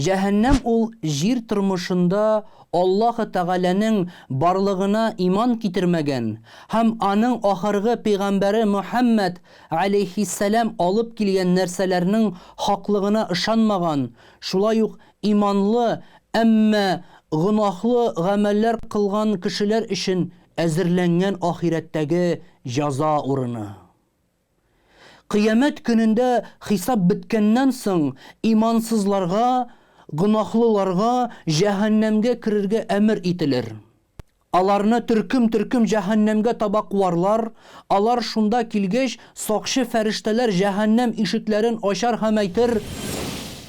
Җәһәннәм ул җир тормышында Аллаһы Тәгаләнең барлыгына иман китермәгән һәм Аның ахыргы пәйгамбәре Мөхәммәд галәйһиссәлам алып килгән нәрсәләрнең хаклыгына ышанмаган, шулай ук иманлы, әмма гөнаһлы гамәлләр кылган кешеләр өчен әзерләнгән ахирәттәге җәза урыны. Кыямәт көнендә хисап беткәннән соң, имансызларга, гөнаһлыларга җәһәннәмгә керергә әмер ителер. Аларны төркем-төркем җәһәннәмгә таба куарлар, алар шунда килгәч, сакчы фәрештәләр җәһәннәм ишекләрен ачар һәм әйтер,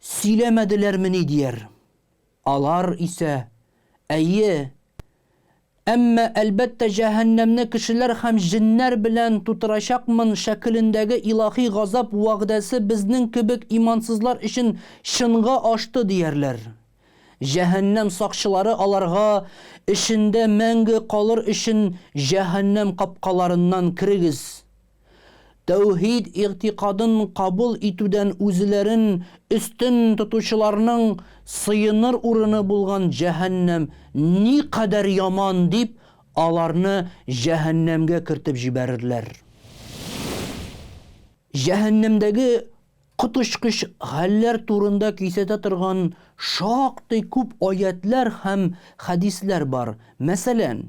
Сөйләмәделәрмени дияр. Алар исә, Әйе. Әмма, әлбәттә, җәһәннәмне кешеләр һәм җеннәр белән тутырачакмын шәкелендәге илаһи газап вәгъдәсе безнең кебек имансызлар өчен чынга ашты, диярләр. Җәһәннәм сакчылары аларга, Эчендә мәңге калыр өчен җәһәннәм капкаларыннан керегез, Тәүһид игътикадын кабул итүдән үзләрен өстен тотучыларның сыеныр урыны булган җәһәннәм никадәр яман дип, аларны җәһәннәмгә кертеп җибәрерләр. Җәһәннәмдәге коточкыч хәлләр турында кисәтә торган шактый күп аятьләр һәм хәдисләр бар. Мәсәлән.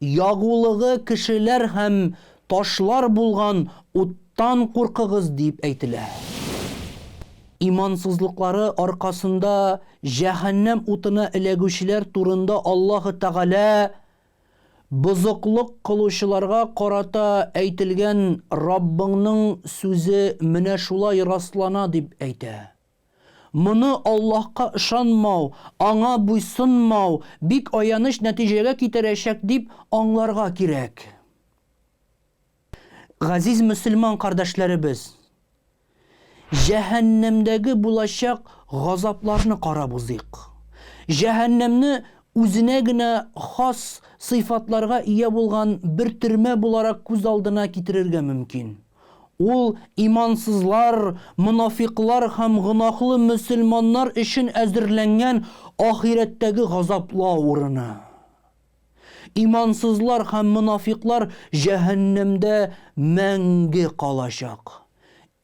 Ягулыгы кешеләр һәм ташлар булган уттан куркыгыз, дип әйтелә. Имансызлыклары аркасында җәһәннәм утына эләгүчеләр турында Аллаһы Тәгалә бозыклык кылучыларга карата әйтелгән Раббыңның сүзе менә шулай раслана дип әйтә. Моны Аллаһка ышанмау, Аңа буйсынмау бик аяныч нәтиҗәгә китерәчәк дип аңларга кирәк. Газиз мөселман кардәшләребез! Җәһәннәмдәге булачак газапларны карап узыйк. Җәһәннәмне үзенә генә хас сыйфатларга ия булган бер төрмә буларак күз алдына китерергә мөмкин. Ул имансызлар, монафикълар һәм гөнаһлы мөселманнар өчен әзерләнгән ахирәттәге газаплау урыны. Имансызлар һәм монафикълар җәһәннәмдә мәңге калачак.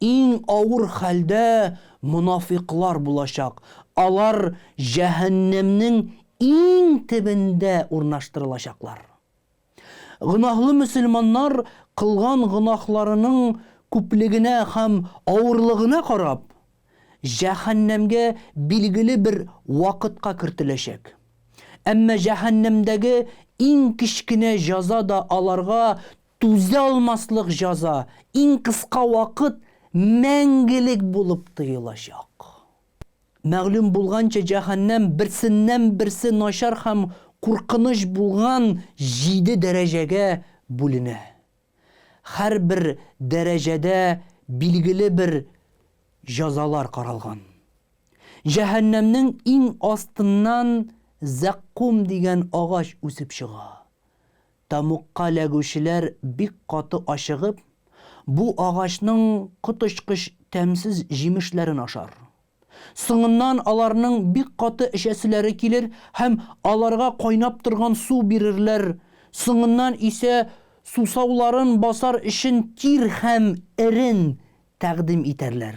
Иң авыр хәлдә монафикълар булачак, алар җәһәннәмнең иң төбендә урнаштырылачаклар. Гөнаһлы мөселманнар кылган гөнаһларының күплегенә һәм авырлыгына карап, җәһәннәмгә билгеле бер вакытка кертеләчәк. Әмма җәһәннәмдәге иң кечкенә җаза да аларга түзә алмаслык җаза, иң кыска вакыт мәңгелек булып тоелачак. Мәгълүм булганча, җәһәннәм берсеннән-берсе начар һәм куркыныч булган җиде дәрәҗәгә бүленә. Һәрбер дәрәҗәдә билгеле бер җәзалар каралган. Җәһәннәмнең иң астыннан зәккум дигән агач үсеп чыга. Тәмугка эләгүчеләр бик каты ачыгып, бу агачның коточкыч тәмсез җимешләрен ашар. Соңыннан аларның бик каты эчәселәре килер һәм аларга кайнап торган су бирерләр, соңыннан исә сусауларын басар өчен тир һәм эрен тәкъдим итәрләр.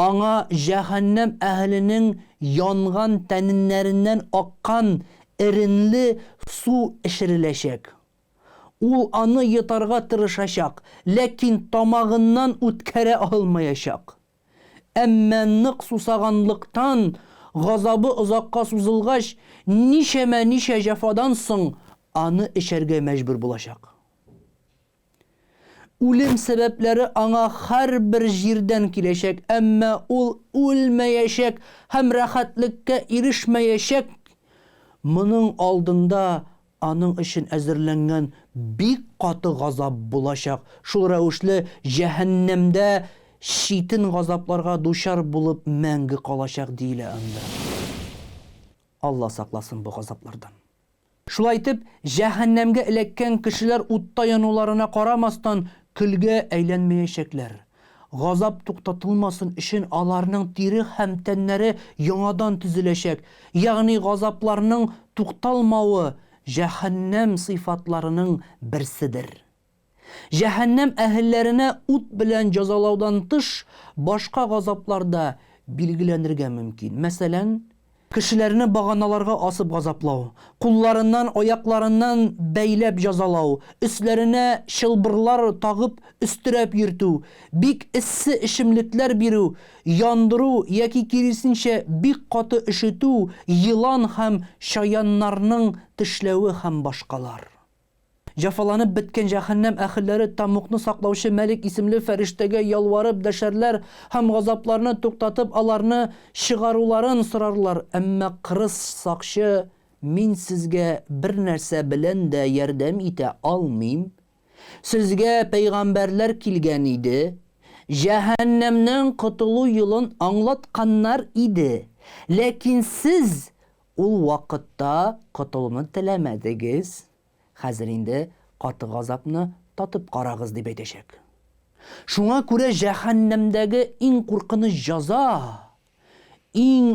Аңа җәһәннәм әһеленең янган тәненнәреннән аккан эренле су эчереләчәк. Ул аны йотарга тырышачак, ләкин тамагыннан үткәрә алмаячак. Әмма нык сусаганлыктан, газабы озакка сузылгач, ничәмә-ничә җәфадан соң аны эчәргә мәҗбүр булачак. Үлем сәбәпләре аңа һәрбер җирдән киләчәк, әмма ул үлмәячәк һәм рәхәтлеккә ирешмәячәк. Моның алдында аның өчен әзерләнгән бик каты газап булачак, шул рәвешле җәһәннәмдә читен газапларга дучар булып мәңге калачак, диелә анда. Алла сакласын бу газаплардан. Шулай итеп, җәһәннәмгә эләккән кешеләр утта януларына карамастан, көлгә әйләнмәячәкләр. Газап туктатылмасын өчен аларның тире һәм тәннәре яңадан төзеләчәк, ягъни газапларның тукталмавы җәһәннәм сыйфатларының берседер. Җәһәннәм әһелләренә ут белән җәзалаудан тыш, башка газаплар да билгеләнергә мөмкин. Мәсәлән, кешеләрне баганаларга асып газаплау, кулларыннан, аякларыннан бәйләп җәзалау, өсләренә чылбырлар тагып өстерәп йөртү, бик эссе эчемлекләр бирү, яндыру яки киресенчә бик каты өшетү, елан һәм чаяннарның тешләве һәм башкалар. Җәфаланып беткән җәһәннәм әһелләре тәмугны саклаучы Мәлик исемле фәрештәгә ялварып дәшәрләр һәм газапларны туктатып аларны чыгаруларын сорарлар, әмма кырыс сакчы, Мин сезгә бернәрсә белән дә ярдәм итә алмыйм. Сезгә пәйгамбәрләр килгән иде, җәһәннәмнән котылу юлын аңлатканнар иде, ләкин сез Ул вакытта котылуны теләмәдегез, хәзер инде каты газапны татып карагыз, дип әйтәчәк. Шуңа күрә җәһәннәмдәге иң куркыныч җәза, иң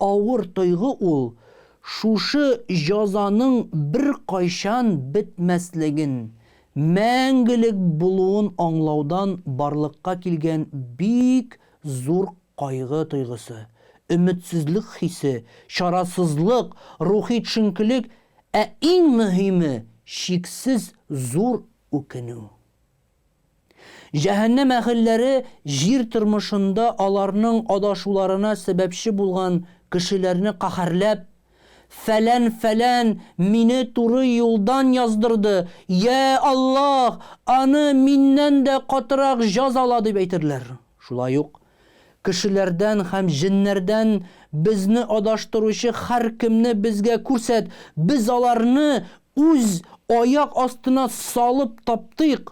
авыр тойгы ул шушы җәзаның беркайчан бетмәслеген, мәңгелек булуын аңлаудан барлыкка килгән бик зур Кайгы тойгысы, өметсезлек хисе, чарасызлык, рухи төшенкелек, ә иң мөһиме, чиксез зур үкенү. Җәһәннәм әһелләре җир тормышында аларның адашуларына сәбәпче булган кешеләрне каһәрләп, Фәлән фәлән мине туры юлдан яздырды, йә Аллаһ, аны миннән дә катырак җазала, дип әйтерләр. Шулай ук кешеләрдән һәм җеннәрдән безне адаштыручы һәркемне безгә күрсәт, без аларны үз аяк астына салып таптыйк,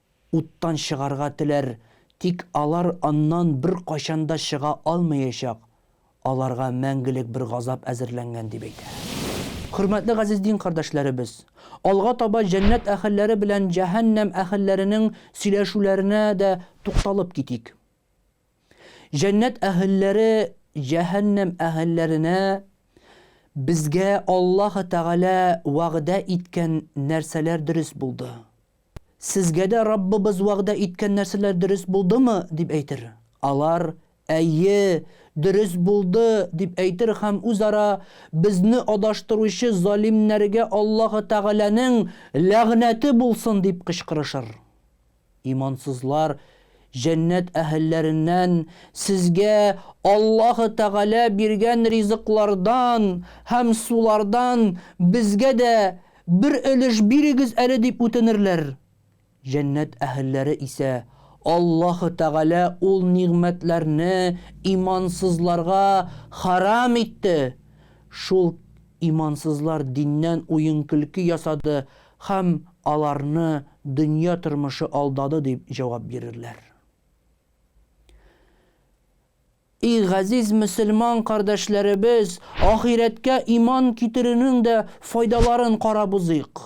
уттан чыгарга теләр, тик алар аннан беркайчан да чыга алмаячак, аларга мәңгелек бер газап әзерләнгән, дип әйтә. Хөрмәтле газиз дин кардәшләребез! Алга таба җәннәт әһелләре белән җәһәннәм әһелләренең сөйләшүләренә дә тукталып китик. Җәннәт әһелләре җәһәннәм әһелләренә Безгә Аллаһы Тәгалә вәгъдә иткән нәрсәләр дөрес булды. Сезгә дә Раббыбыз вәгъдә иткән нәрсәләр дөрес булдымы? дип әйтер. Алар, Әйе, дөрес булды, дип әйтер һәм үзара, Безне адаштыручы залимнәргә Аллаһы Тәгаләнең ләгънәте булсын! дип кычкырышыр. Имансызлар, Җәннәт әһелләреннән, Сезгә Аллаһы Тәгалә биргән ризыклардан һәм сулардан безгә дә Бер өлеш бирегез әле, дип үтенерләр. Җәннәт әһелләре исә, Аллаһы Тәгалә ул нигъмәтләрне имансызларга хәрам итте, шул имансызлар диннән уен-көлке ясады һәм аларны дөнья тормышы алдады, дип җавап бирерләр. И газиз мөселман кардәшләребез, ахирәткә иман китерүнең дә файдаларын карап узыйк.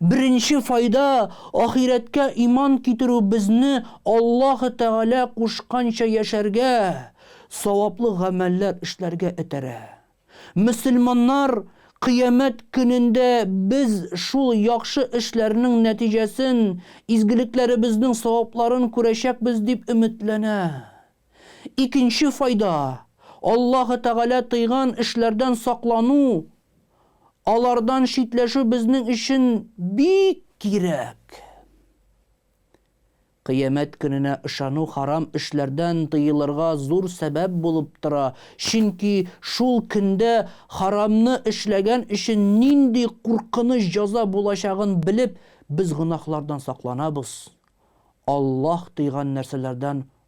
Беренче файда, ахирәткә иман китерү безне Аллаһы Тәгалә кушканча яшәргә, саваплы гамәлләр эшләргә этәрә. Мөселманнар Кыямәт көнендә без шул яхшы эшләрнең нәтиҗәсен, изгелекләребезнең савапларын күрәчәкбез дип өметләнә. Икенче файда, Аллаһы Тәгалә тыйган эшләрдән саклану, алардан читләшү безнең өчен бик кирәк. Кыямәт көненә ышану харам эшләрдән тыелырга зур сәбәп булып тора, чөнки шул көндә харамны эшләгән өчен нинди куркыныч җәза булачагын белеп, без гөнаһлардан сакланабыз, Аллаһ тыйган нәрсәләрдән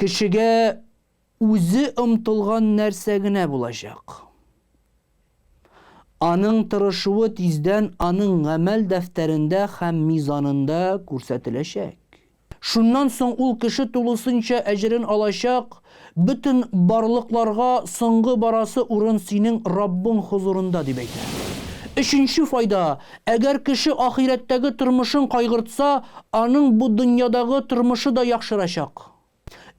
Кешегә үзе омтылган нәрсә генә булачак. Аның тырышуы тиздән аның гамәл дәфтәрендә һәм мизанында күрсәтеләчәк. Шуннан соң ул кеше тулысынча әҗерен алачак, бөтен барлыкларга соңгы барасы урын синең Раббың хозурында, дип әйтә. Өченче файда, әгәр кеше ахирәттәге тормышын кайгыртса, аның бу дөньядагы тормышы да яхшырачак.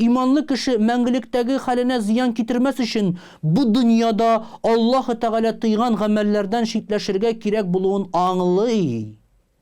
Иманлы кеше мәңгелектәге хәленә зыян китермәс өчен, бу дөньяда Аллаһы Тәгалә тыйган гамәлләрдән читләшергә кирәк булуын аңлый.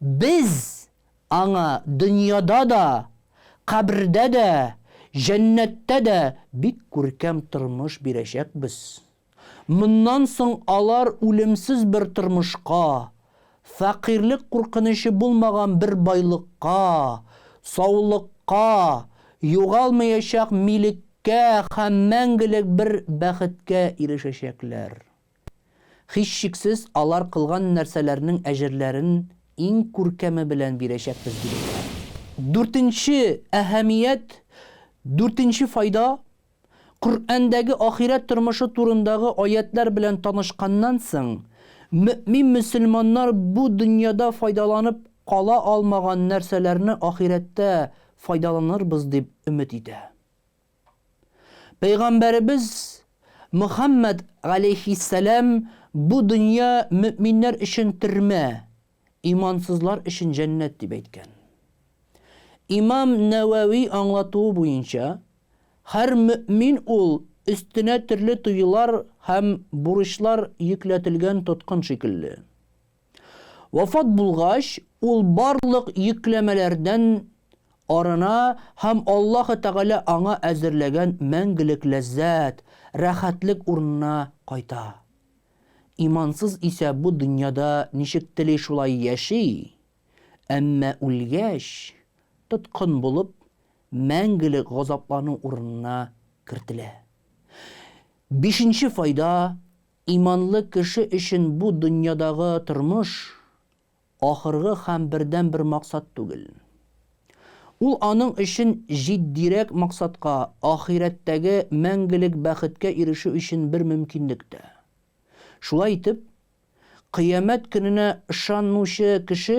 Без аңа дөньяда да, кабердә дә, җәннәттә дә бик күркәм тормыш бирәчәкбез. Моннан соң алар үлемсез бер тормышка, фәкыйрьлек куркынычы булмаган бер байлыкка, саулыкка, югалмаячак милеккә һәм мәңгелек бер бәхеткә ирешәчәкләр. Һичшиксез, алар кылган нәрсәләрнең әҗерләрен иң күркәме белән бирәчәкбез, дип әйтә. Дүртенче әһәмият, дүртенче файда, Коръәндәге ахирәт тормышы турындагы аятьләр белән танышканнан соң, мөэмин мөселманнар бу дөньяда файдаланып кала алмаган нәрсәләрне ахирәттә файдаланырбыз дип өмет итә. Пәйгамбәребез Мөхәммәд галәйһиссәлам бу дөнья мөэминнәр өчен төрмә, имансызлар өчен җәннәт дип әйткән. Имам Нәвәви аңлатуы буенча, һәр мөэмин ул өстенә төрле туйлар һәм бурычлар йөкләтелгән тоткын шикелле. Вафат булгач, ул барлык йөкләмәләрдән арына һәм Аллаһы Тәгалә аңа әзерләгән мәңгелек ләззәт, рәхәтлек урынына кайта. Имансыз исә бу дөньяда ничек тели шулай яши, әмма үлгәч, тоткын булып, мәңгелек газаплану урынына кертелә. Бишенче файда, Иманлы кеше өчен бу дөньядагы тормыш ахыргы һәм бердәнбер максат түгел. Ул аның өчен җитдирәк максатка, ахирәттәге мәңгелек бәхеткә ирешү өчен бер мөмкинлек тә. Шулай итеп, Кыямәт көненә ышанмыучы кеше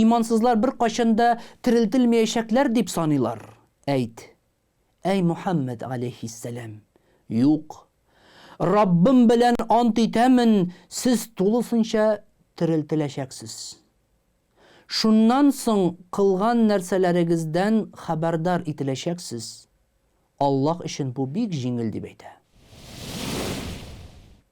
Имансызлар беркайчан да терелтелмәячәкләр дип саныйлар. Әйт, әй Мөхәммәд галәйһиссәлам, Юк! Раббым белән ант итәмен, сез тулысынча терелтеләчәксез. Шуннан соң кылган нәрсәләрегездән хәбәрдар ителәчәксез. Аллаһ өчен бу бик җиңел, дип әйтә.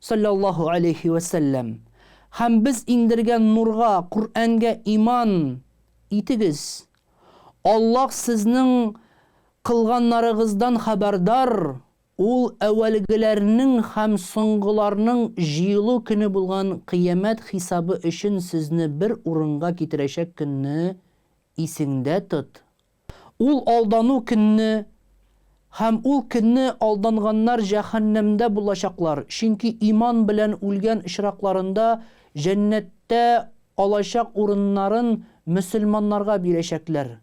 Салләллаһу галәйһи вә сәлләм, һәм без иңдергән нурга, Коръәнгә иман итегез. Аллаһ сезнең кылганнарыгыздан хәбәрдар, Ул әүвәлгеләрнең һәм соңгыларның җыелу көне булган Кыямәт хисабы өчен сезне бер урынга китерәчәк көнне исеңдә тот, Ул алдану көнне һәм ул көнне алданганнар җәһәннәмдә булачаклар, чөнки иман белән үлгән очракларында җәннәттә алачак урыннарын мөселманнарга бирәчәкләр,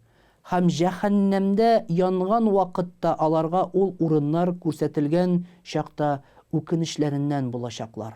һәм җәһәннәмдә янган вакытта аларга ул урыннар күрсәтелгән чакта үкенечләреннән булачаклар.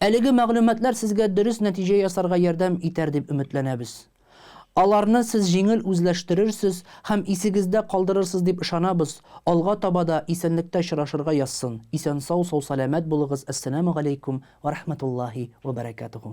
Әлеге мәгълүматлар сезгә дөрес нәтиҗә ясарга ярдәм итәр дип өметләнәбез. Аларны сез җиңел үзләштерерсез һәм исегездә калдырырсыз дип ышанабыз, алга таба да исәнлектә очрашырга язсын, исән-сау, сау-сәламәт булыгыз, Әссәләмү галәйкүм вә рахмәтуллаһи вә бәрәкәтүһү.